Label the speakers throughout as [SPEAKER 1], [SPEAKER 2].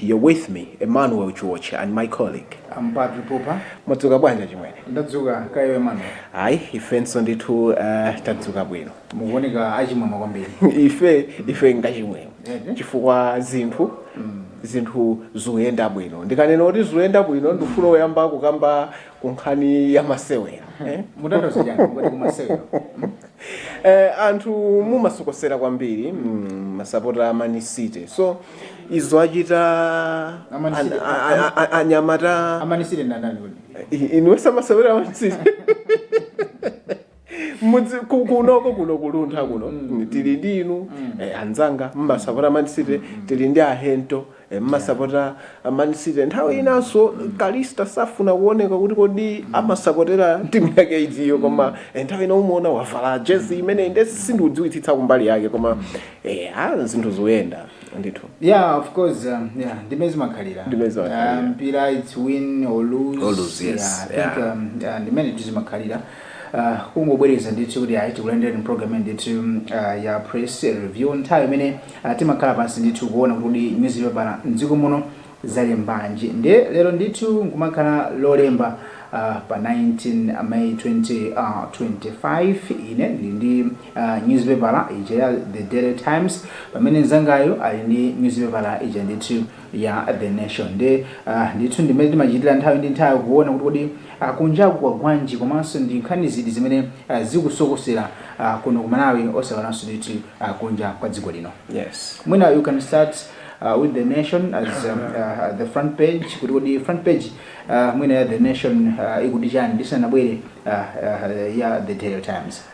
[SPEAKER 1] You're with me, Emmanuel Chiwoche, and my colleague. I'm Patrick Popa.
[SPEAKER 2] Mwadzuka bwanji chimwene?
[SPEAKER 1] Ndadzuka kaya
[SPEAKER 2] Emmanuel. Ayi,
[SPEAKER 1] ifenso ndithu uh, tadzuka bwino. Mukuoneka
[SPEAKER 2] achimwemwe kwambiri. Ife
[SPEAKER 1] ife ngachimwemwe. Mhm. Chifukwa zinthu mm. zinthu zikuyenda bwino. Ndikanena kuti zikuyenda bwino ndifuna kuyamba kukamba ku nkhani ya masewera
[SPEAKER 2] eh? mutanthauza chani kuti kumasewera
[SPEAKER 1] eh, anthu mumasokosera kwambiri mm, masapota a Man City so izo achita A Man City- an- a- a- a- anyamata a Man City
[SPEAKER 2] ndani kodi
[SPEAKER 1] iwinisa masewera Man City Mudzi ku- kunoko kuno kuluntha kuno tili ndi inu eh, anzanga mumasapota man city tili ndi ahento eh, mumasapota man city nthawi inanso kalista safuna kuoneka kuti kodi amasapotera timu yake itiyo koma eh, nthawi ina umaona wavala jezi imene ine sindiidziwitsitsa kumbali yake koma eh, ah, zinthu zikuyenda ndithu yeah of course um,
[SPEAKER 2] yeah ndi mmene zimakhalira Ndi mmene zimakhalira. um, mpira it's win or lose, Or lose, yes. yeah, I think Yeah. um, yeah, ndi mmene zimakhalira Uh, kungobwereza ndithu kuti ayi tikulandirani mpulogalamu ya ndithu uh, ya press review nthawi imene uh, timakhala pansi ndithu kuona kuti nyuzipepala mdziko muno zalembanji nde lero ndithu kumakhala lolemba uh, pa 19 may 2025 uh, ine ndili ndi uh, nyuzipepala ija ya the daily times pamene mnzangayu ali ndi nyuzipepala ija ndithu ya the nation nde uh, ndithu ndi mmene timachitira nthawi ndi nthawi kuona kuti kodi kunjaku kwagwanji komanso ndi nkhani ziti zimene zikusokosera kuno ku Malawi osaiwalanso ndithu kunja kwa dziko lino yes mwina you
[SPEAKER 1] can start
[SPEAKER 2] with the nation as um, uh, the front page kuti kodi front page uh, mwina ya the nation uh, ikuti chani ndisanabwere uh, uh, ya the daily times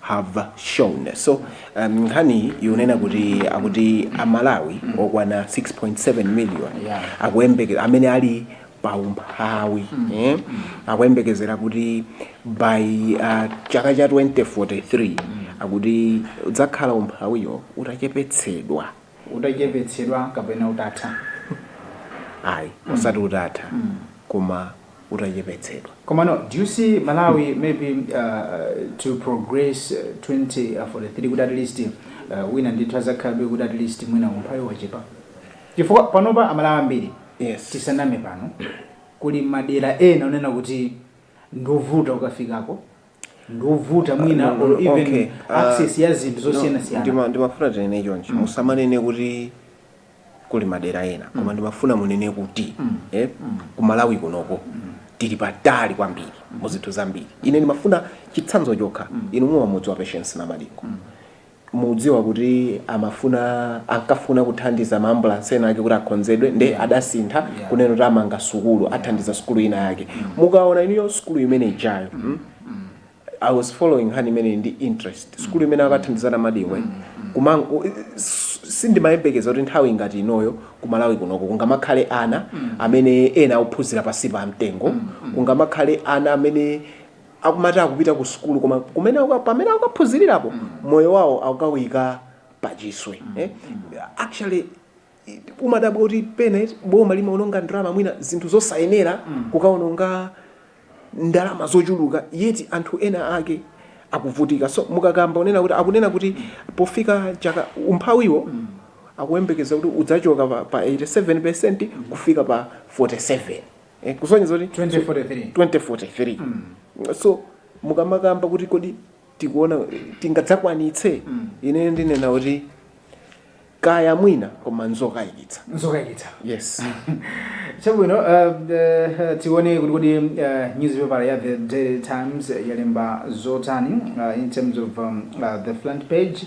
[SPEAKER 1] have shown. So um, nkhaniyi ikunena kuti akuti amalawi okwana 6.7 million Yeah. akuyembeke amene ali paumphawi eh? akuyembekezera kuti by uh, chaka cha 2043 akuti udzakhala umphawiyo utachepetsedwa
[SPEAKER 2] utachepetsedwa kapena
[SPEAKER 1] utatha? Ayi, osati utatha koma utachepetsedwa. Komano do you
[SPEAKER 2] see Malawi maybe uh, to progress uh, 2043 kuti at least uh, mwina ndithu pazakhalabe kuti at least mwina umphawi wachepa chifukwa panopa amalawi ambiri Yes. tisaname pano kuli madera ena onena kuti ndovuta ukafikako ndiwovuta mwina No, no, or no, even okay, ah, access ya zinthu No, zosiyanasiyana ndima- ndimafuna tinene chonchi
[SPEAKER 1] musamanene kuti kuli madera ena koma ndimafuna munene kuti eh, ku malawi kunoko tili patali kwambiri mu zinthu zambiri ine ndimafuna chitsanzo chokha inu mumamudziwa patience namadingo mudziwa kuti amafuna ankafuna kuthandiza maambulance ena ake kuti akhonzedwe nde yeah. adasintha yeah. kunena kuti amanga sukulu yeah. athandiza sukulu ina yake mm. mukaona iniyo sukulu imene ijayo mm. mm. i was following nkhani imeneyi ndi interest mm. sukulu imene akathandiza Namadingo mm. mm. sindimayembekeza kuti nthawi ngati inoyo kumalawi kunoko kungamakhale ana mm. amene ena akuphunzira pasi pa mtengo mm. mm. kungamakhale ana amene akumati akupita ku sukulu koma kumene akuka- pamene akukaphunzirirapo moyo wawo akukawuyika pachiswe eh? actually i- umadabwa kuti pena eti boma limaononga ndalama mwina zinthu zosayenera kukaononga ndalama zochuluka yeti anthu ena ake akuvutika so mukakamba kunena kuti akunena kuti pofika chaka umphawiwo akuyembekeza kuti udzachoka pa, pa 87 percent kufika pa 47 eh, kusonyeza kuti 2043 2043 so mukamakamba kuti kodi mukuona tingadzakwanitse ine ndinena kuti kaya mwina koma nzokayikitsa nzokayikitsa
[SPEAKER 2] yes chabwino uh, uh, tione kuti kodi uh, newspaper ya the daily times yalemba zotani uh, in terms of um, uh, the front page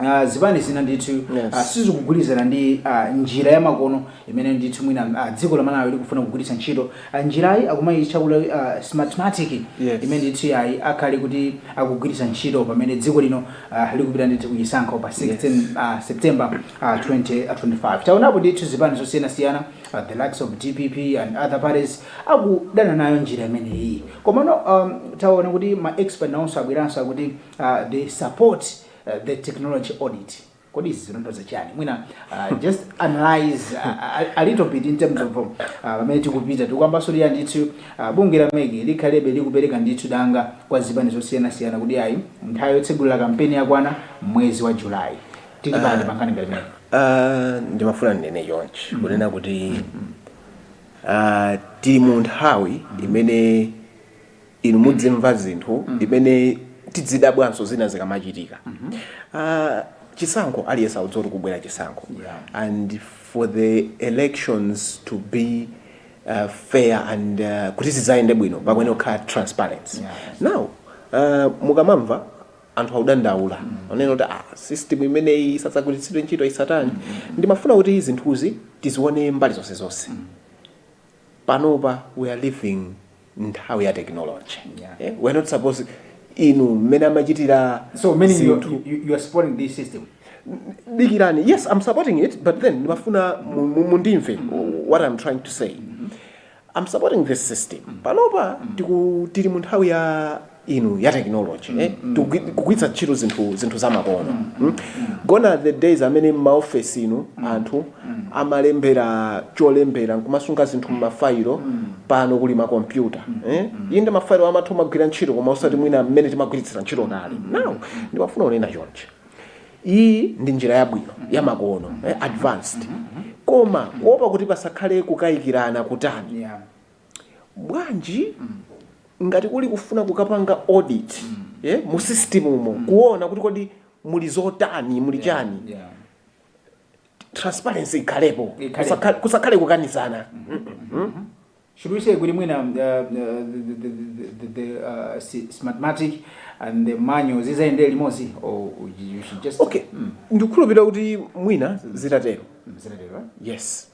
[SPEAKER 2] Uh, zipani zina ndithu yes. uh, sizikugwirizana ndi uh, njira yamakono imene ndithu mwina uh, dziko la Malawi likufuna kugwiritsa ntchito uh, njirayi akumayitchula kuti uh, smartmatic yes. imene ndithu yayi akhale kuti akugwiritsa ntchito pamene dziko lino uh, likupita ndithu kuchisankho pa 16 yes. uh, September uh, 2025 taonapo ndithu zipani zosiyanasiyana uh, the likes of DPP and other parties akudana nayo njira imeneyi komano um, taona kuti ma expert nawonso abweranso akuti uh, they support the technology audit kodi izi zikutanthauza chani mwina uh, just analyze uh, a, a little bit in terms of uh, pamene tikupita tikuyamba nsoliya ndithu uh, bungwe la MEC likhalebe likupereka ndithu danga kwa zipani zosiyanasiyana kuti ayi nthawi yotsegulira kampeni yakwana mwezi wa julayi tili pati uh, pankhani ngati imeneyi Ah,
[SPEAKER 1] ndimafuna ndinene chonchi kunena kuti ah, tili mu nthawi imene inu mudzimva zinthu zimene tidzidabwanso zina zikamachitika Ah, chisankho aliyense akudziwa kuti kubwera chisankho Yeah. and for the elections to be uh, fair and uh, kuti zidzayende bwino pakuyenera kukhala transparency Yeah. now uh, mukamamva anthu akudandaula kunena kuti ah, system imeneyi isadzagwiritsidwe ntchito isatani ndimafuna kuti zinthuzi tizione mbali zonse zonse panopa we are living nthawi ya technology yeah. yeah? we are not suppose inu mmene amachitira so meaning you, you,
[SPEAKER 2] you are supporting this system dikirani
[SPEAKER 1] yes i'm supporting it but then ndimafuna mundimve mm-hmm. what i'm trying to say mm-hmm. i'm supporting this system mm-hmm. panopa tili mu nthawi ya inu ya technology eh? Tikugwi- kugwiritsa ntchito zinthu zinthu zamakono mm? gone are the days amene m'maofesi umu anthu amalembera cholembera nkumasunga zinthu m'mafailo pano kuli makompyuta eh? inde mafailo amatha kugwira ntchito koma osati mwina mmene timagwiritsira ntchito kale now ndimafuna kunena chonchi iyi ndi njira yabwino yamakono eh? advanced koma kuopa kuti pasakhale kukayikirana kutani Yeah. Bwanji ngati kuli kufuna kukapanga audit yeah mu system umo kuona kuti kodi muli zotani muli chani transparency ikhalepo Ikhalepo. kusakhale, kusakhale kukanizana
[SPEAKER 2] Should we say kuti mwina uh, uh, the, the, the, the, the uh, si- smartmatic and the manual zizayendere limodzi or you should just okay Mm, ndikukhulupirira
[SPEAKER 1] kuti mwina zitatero mm, zinatero, eh? yes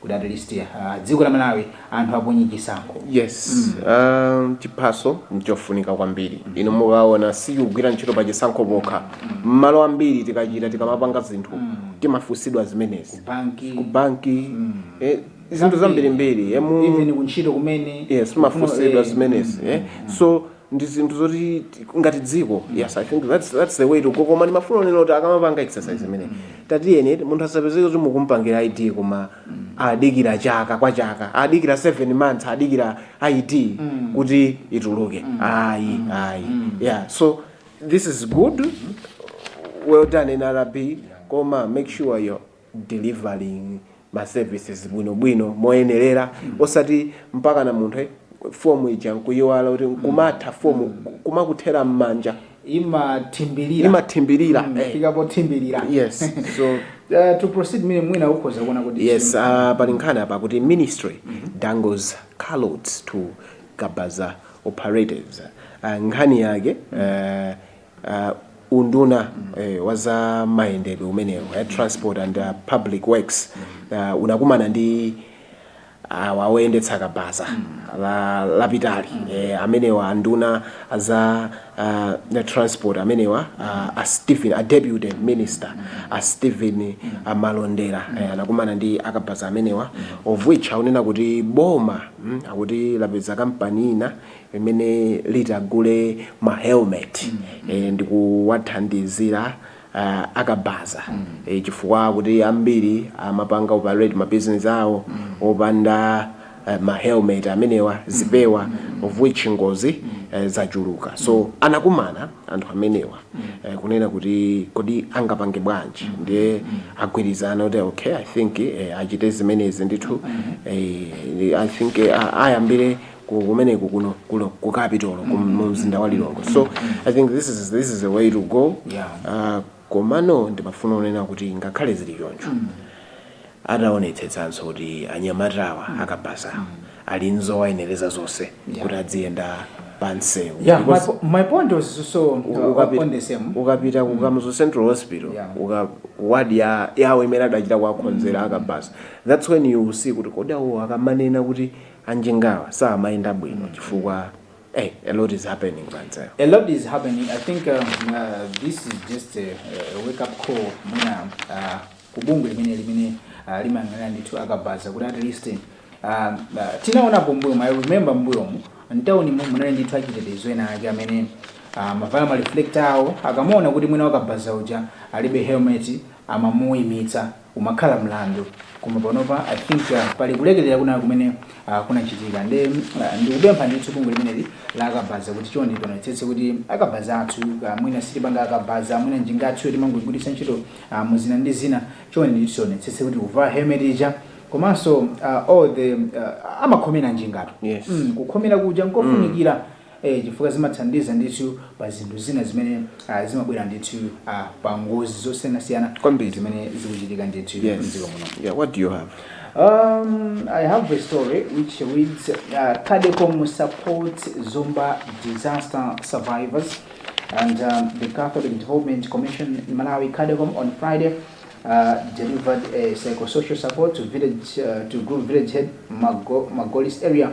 [SPEAKER 2] Kuti at least uh, dziko la Malawi anthu aponye chisankho.
[SPEAKER 1] yes um, chiphaso nchofunika kwambiri inu mukaona sikugwira ntchito pa chisankho pokha mmalo ambiri tikachita tikamapanga zinthu timafunsidwa zimenezi Banki ku banki eh, zinthu zambirimbiri eh, mu- even kuntchito
[SPEAKER 2] kumene. yes timafunsidwa
[SPEAKER 1] eh, zimenezi eh. so ndi zinthu zoti ti- ngati dziko yes i think that's, that's the way to go koma ndimafuna kunena kuti akamapanga exercise imene tatiyeni munthu asapezeke kuti mukumpangira id koma adikira chaka kwa chaka adikira 7 months adikira id kuti ituluke ayi ayi yeah so this is good well done nrb koma make sure your delivering ma services bwino bwino moyenelera osati mpakana munthu eh, form ija nkuyiwala kuti kumatha form kumakuthera mmanja imathimbirira imathimbirira Mm, eh. fika
[SPEAKER 2] pothimbirira yes
[SPEAKER 1] so Uh, to
[SPEAKER 2] proceed mimi mwina ukhoza kuona kuti yes uh, pali
[SPEAKER 1] nkhani apa kuti ministry dangles carrots to kabaza operators uh, nkhani yake uh, uh, unduna eh, wa zamayendedwe umenewu eh, transport and uh, public works uh, unakumana ndi awa awoyendetsa kabaza dzana lapitali eh, amenewa anduna za uh, the transport amenewa uh, a stephen a deputy minister a stephen uh, malondera eh, anakumana ndi akabaza amenewa of which akunena kuti boma mm, akuti lapeza kampani ina limene litagule ma helmet ndikuwathandizira akabaza chifukwa kuti ambiri amapanga operate ma business awo opanda ma helmet amenewa, zipewa, of which ngozi zachuluka. So anakumana anthu amenewa kunena kuti kodi angapange bwanji ndiye agwirizana kuti okay I think achite zimenezi ndithu I think ayambire ku- kumeneku kuno kuno ku capital ku- mu mzinda wa lilongwe so i think this is, this is the way to go Yeah. Ah, komano ndimafuna kunena kuti ngakhale zili choncho ataonetsetsanso kuti anyamatawa akabaza ali nzowayenereza zonse Yeah. kuti adziyenda pansewu yeah my, Because- po-
[SPEAKER 2] my point was so uh, ukapita- on the same ukapita ku
[SPEAKER 1] kamuzu central hospital Yeah. uka ward ya yawo imene adachita kuwakonzera akabaza that's when you see kuti kodi awo akamanena kuti anjingawa samayenda bwino chifukwa hey a lot is happening manze A lot
[SPEAKER 2] is happening. I think um, uh, this is just a, a wake up call mwina uh, kubungwe limene limene uh, limayang'anira ndithu akabaza kuti at least um, uh, tinaonapo mbuyomu i remember mbuyomu mtawuni mu munali ndithu achitetezo ena ake amene uh, amavala ma reflector awo akamaona kuti mwina wakabaza uja alibe helmet amamuyimitsa umakhala mlandu koma panopa i think uh, pali kulekelera kwina kumene uh, kunachitika nde uh, ndikupempha ndithu bungwe limeneli la akabaza kuti chonde tionetsetse kuti akabaza athu uh, mwina sitipanga akabaza mwina njinga athu timangoigwiritsa ntchito uh, muzina ndi zina chonde ndithu tionetsetse kuti kuvala helmet ija komanso uh, all the uh, amakhomera njingatu Yes. mm, kukhomera
[SPEAKER 1] kuja
[SPEAKER 2] nkofunikira e chifukwa zimathandiza ndithu pa zinthu zina zimene ah, zimabwera ndithu ah, pa ngozi zosiyanasiyana Kwambiri. zimene zikuchitika ndithu Yes. mdziko muno Yeah, what do you have?
[SPEAKER 1] Um,
[SPEAKER 2] I have a story which reads uh, Cadecom supports Zomba disaster survivors and um, the Catholic Development Commission in Malawi Cadecom on Friday uh, delivered a psychosocial support to village uh, to group village head Mago, Magolis area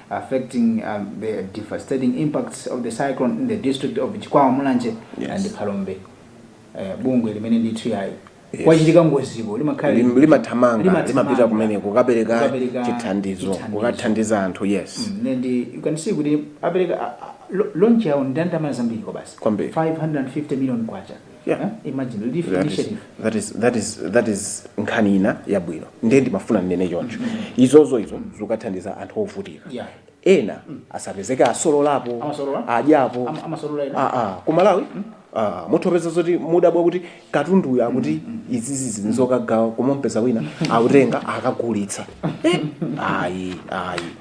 [SPEAKER 2] affecting the devastating impacts of the cyclone in the district of Chikwawa, Mulanje yes. and Phalombe. Uh, bungwe limene ndithu yayi yes. kwachitika ngoziko limakhala Lim, limathamanga
[SPEAKER 1] limapita kumene kukapereka chithandizo kukathandiza anthu yes mm, and you can see
[SPEAKER 2] kuti apereka launch yawo ndandama zambiri kwabasi 550 million kwacha Yeah. Eh? Imagine relief That is, initiative.
[SPEAKER 1] that is, that is, that is nkhani ina yabwino ndiye ndimafuna ndinene choncho izozo izo zikathandiza anthu ovutika Yeah. ena asapezeke asololapo Amasolola? adyapo Ama- amasolola ena? Ah, ah. ku malawi ah, mutha kupeza zoti mudabwa kuti katunduyo akuti izizi ndi zokagawa koma kumpeza wina akutenga akagulitsa Eh, ayi ayi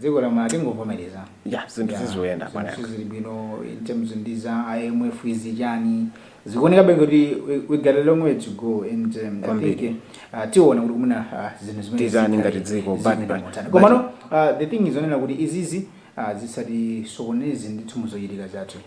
[SPEAKER 2] dziko la malawi
[SPEAKER 1] tingovomereza ya zinthu zizoyenda zinthu bwana sizili
[SPEAKER 2] bwino in terms ndi za imf izi chani zikuonekabe ngati we, we got a long way to go and um, I Kwambiri. think, uh, tiona kuti kumene uh, zinthu zimene Tizani zikhale-
[SPEAKER 1] ngati dziko, but- zikuyenda but- motani. but-
[SPEAKER 2] komano uh, the thing is onena kuti izizi uh, zisatisokoneze ndithu muzochitika zathu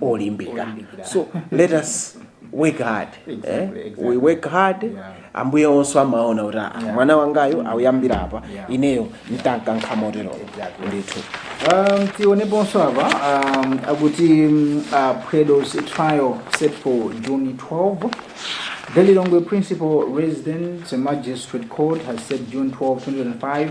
[SPEAKER 1] olimbika so let us work hard eh? Exactly, exactly.
[SPEAKER 2] we work hard
[SPEAKER 1] Yeah. ambuye onse amaona kuti "Ah, Yeah. mwana wangayo auyambira apa Yeah. ineyo ntankankha motero Exactly. ndithu Um,
[SPEAKER 2] tioneponso apa um, akuti mm, uh, Predo's trial set for June 12. Delilongwe Principal Residence Magistrate Court has set June 12, 2025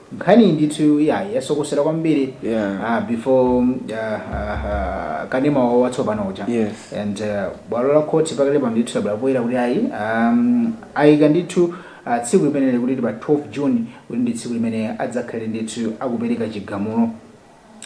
[SPEAKER 2] Nkhaniyi ndithu iyayi yasokosera kwambiri Yeah. ah, before ah, ah, ah, kanema wa- watsopano uja Yes. and uh,
[SPEAKER 1] bwalo
[SPEAKER 2] la khoti pakali pano ndithu labwera poyera kuti ayi um, ayika ndithu uh, tsiku limeneli kuti ndi pa 12 june kuti ndi tsiku limene adzakhale ndithu akupereka chigamulo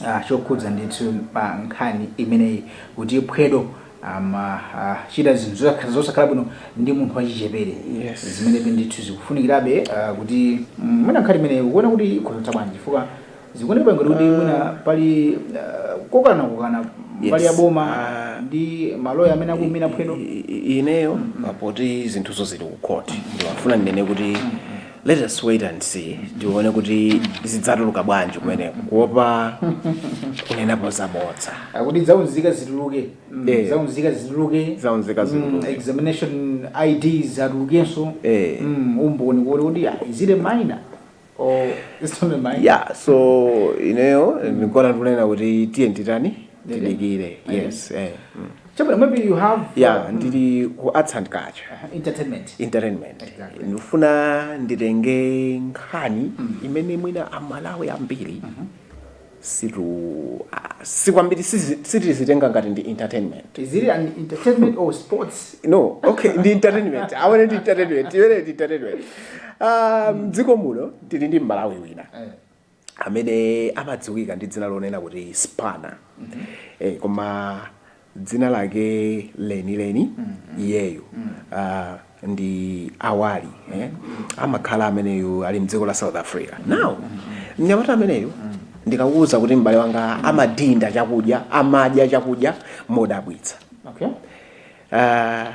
[SPEAKER 2] ah, chokhudza ndithu pa nkhani imeneyi kuti phwedo amachita zinthu zosakhala- zosakhala bwino ndi munthu wachichepere Yes. zimene ndithu zikufunikirabe ah, kuti mm, mwina nkhani imeneyi ukuona kuti ikutha bwanji chifukwa zikuoneka ngati kuti mwina pali ah, kokana kokana pali Yes. a boma Ah. ndi maloya amene akuimira phwedo I- i- ineyo
[SPEAKER 1] poti zinthuzo zili ku court ndimafuna ndinene kuti Let us wait and see tione kuti zidzatuluka bwanji kumeneko kuopa kunenapo zabodza akuti zaunzika
[SPEAKER 2] zituluke Mm, Eh. zaunzika zituluke Zaunzika Mm, zituluke. examination ids atulukenso Eh. Mm, umboni kuti kuti ah, is it a minor or it's not a minor ya so
[SPEAKER 1] ineyo ndikuona tikunena kuti tiyeni titani tidikire yes eh. mm.
[SPEAKER 2] Chabwino, maybe you have yeah ndili
[SPEAKER 1] ku arts and culture uh,
[SPEAKER 2] entertainment entertainment
[SPEAKER 1] Exactly. ndifuna nditenge nkhani imene mwina amalawi ambiri situ ah, si kwambiri sizi- sitizitenga ngati ndi entertainment is it an
[SPEAKER 2] entertainment or sports no okay
[SPEAKER 1] ndi entertainment aone ndi entertainment iwene ndi entertainment Ah, mdziko muno tili ndi mmalawi wina Eh. amene amadziwika ndi dzina lonena kuti spana eh, koma dzina lake lenileni iyeyu ah, ndi awali eh, amakhala ameneyu ali mdziko la south africa now mnyamata ameneyu ndikakuuza kuti m'bale wanga amadinda chakudya amadya chakudya modabwitsa
[SPEAKER 2] okay Ah,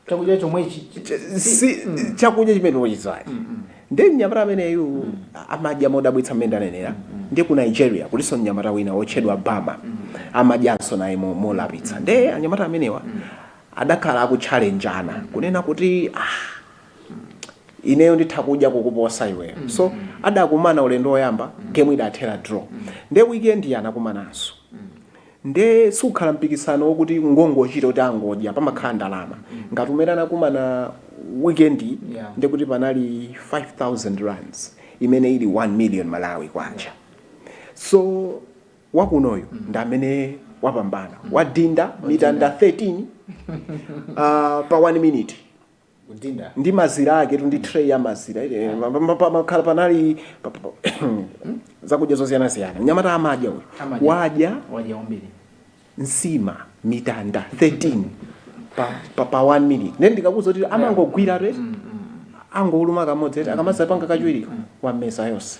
[SPEAKER 2] chakudya chomwechi chi- Ch- si-
[SPEAKER 1] si mm. chakudya chimene wachidzali nde mnyamata ameneyu amadya modabwitsa mmene ndanenera nde ku nigeria kulinso mnyamata wina wotchedwa bama amadyanso naye mo- molapitsa nde anyamata amenewa adakhala akutchalenjana kunena kuti ah, ineyo nditha kudya kukuposa iweyo so adakumana ulendo woyamba game idathera draw nde weekend anakumananso Nde siukhala mpikisano wokuti ngongochita kuti angodya pamakhala ndalama ngati umene anakumana weekend yi ndekuti panali 5000 rands imene ili 1 million Malawi kwacha so wakunoyu ndi amene wapambana wadinda mitanda 13 pa 1 minute. Kudinda. ndi mazira ake ndi tray ya mazira eh, eh, pa- pa- pa- mukhala panali pa- pa- pa- zakudya zosiyanasiyana nyamata amadya uyu Amadya. wadya Wadya kwambiri. nsima mitanda 13 pa, pa, pa 1 minute nde ndikukuuza kuti amangogwira kuti angoluma kamodzi eti akamadzapanga kachiwiri wameza yonse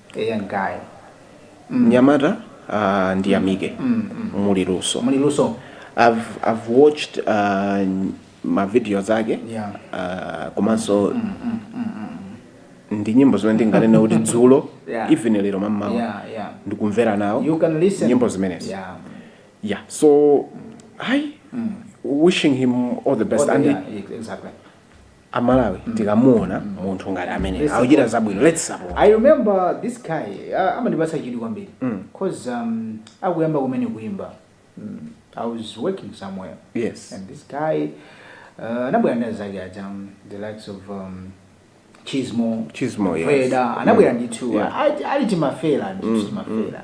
[SPEAKER 2] eya guy mm.
[SPEAKER 1] nyamata uh, ndiyamike mm, mm, mm. muli luso muli luso I've, I've watched uh, mavidiyo ake yeah. uh, komanso mm, mm, mm, mm. ndi nyimbo zimene ndinganene kuti dzulo yeah. even lero mammawa yeah, yeah. ndikumvera nawo nyimbo zimenezi yeah. yeah so mm. i mm. wishing him all the best all the, and yeah, exactly
[SPEAKER 2] a
[SPEAKER 1] Malawi tikamuona munthu ngati ameneyu akuchita zabwino let's support. I remember
[SPEAKER 2] this guy uh, amandipatsa chidwi kwambiri cause um, akuyamba kumene kuimba mm, I was working somewhere Yes. and
[SPEAKER 1] this
[SPEAKER 2] guy uh, anabwera ndi azake aja um, the likes of um, Chismo Chismo, yes. Freda
[SPEAKER 1] anabwera ndithu
[SPEAKER 2] Yeah. ali- ali timafera ndithu timafera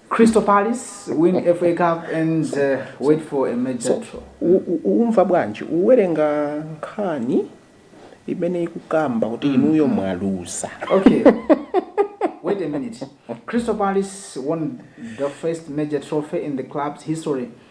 [SPEAKER 1] Crystal
[SPEAKER 2] Palace win FA Cup and uh, wait for a major so, draw. Umva
[SPEAKER 1] bwanji uwerenga nkhani imene ikukamba kuti mm. inuyo mwaluza. Okay.
[SPEAKER 2] Wait a minute. Crystal Palace won the first major trophy in the club's history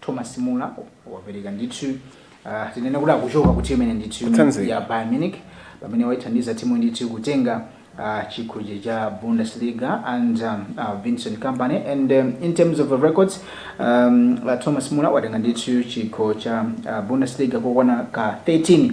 [SPEAKER 2] Thomas Muller wapereka ndithu uh, tinene kuti akuchoka ku timu imene ndithu Kutsanzika. ya Bayern Munich pamene waithandiza timu ndithu kutenga uh, chikho cha- cha Bundesliga and um, uh, Vincent Kompany and um, in terms of ma records um, uh, Thomas Muller watenga ndithu chikho cha uh, Bundesliga kokwana ka 13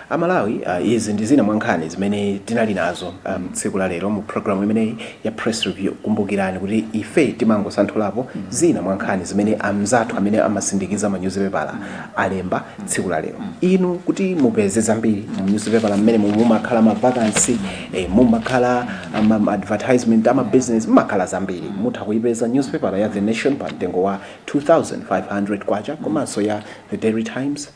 [SPEAKER 1] A Malawi izi ndi zina mwa nkhani zimene tinali nazo tsiku la lero mu program imeneyi ya press review. Kumbukirani kuti ife timangosanthulapo zina mwa nkhani zimene anzathu amene amasindikiza ma nyuzipepala alemba tsiku la lero. Inu kuti mupeze zambiri mu nyuzipepala mmenemu mumakhala ma vacancy, mumakhala ma advertisement a ma business, mumakhala zambiri. Mutha kuipeza nyuzipepala ya The Nation pa mtengo wa K2500 komanso ya The Daily Times,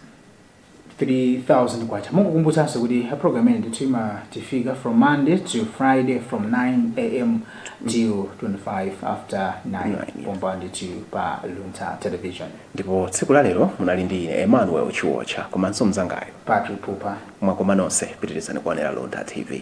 [SPEAKER 2] 3000 kwacha mongokumbutsananso kuti program imeneyi ndithu imatifika from monday to friday from 9am till 25 after 9 pompa ndithu pa luntha television ndipo tsiku
[SPEAKER 1] la lero munali ndi ine emmanuel chiwotcha komanso mzangayo patrick
[SPEAKER 2] pupa mwakoma
[SPEAKER 1] nonse pitirizani kuonera luntha tv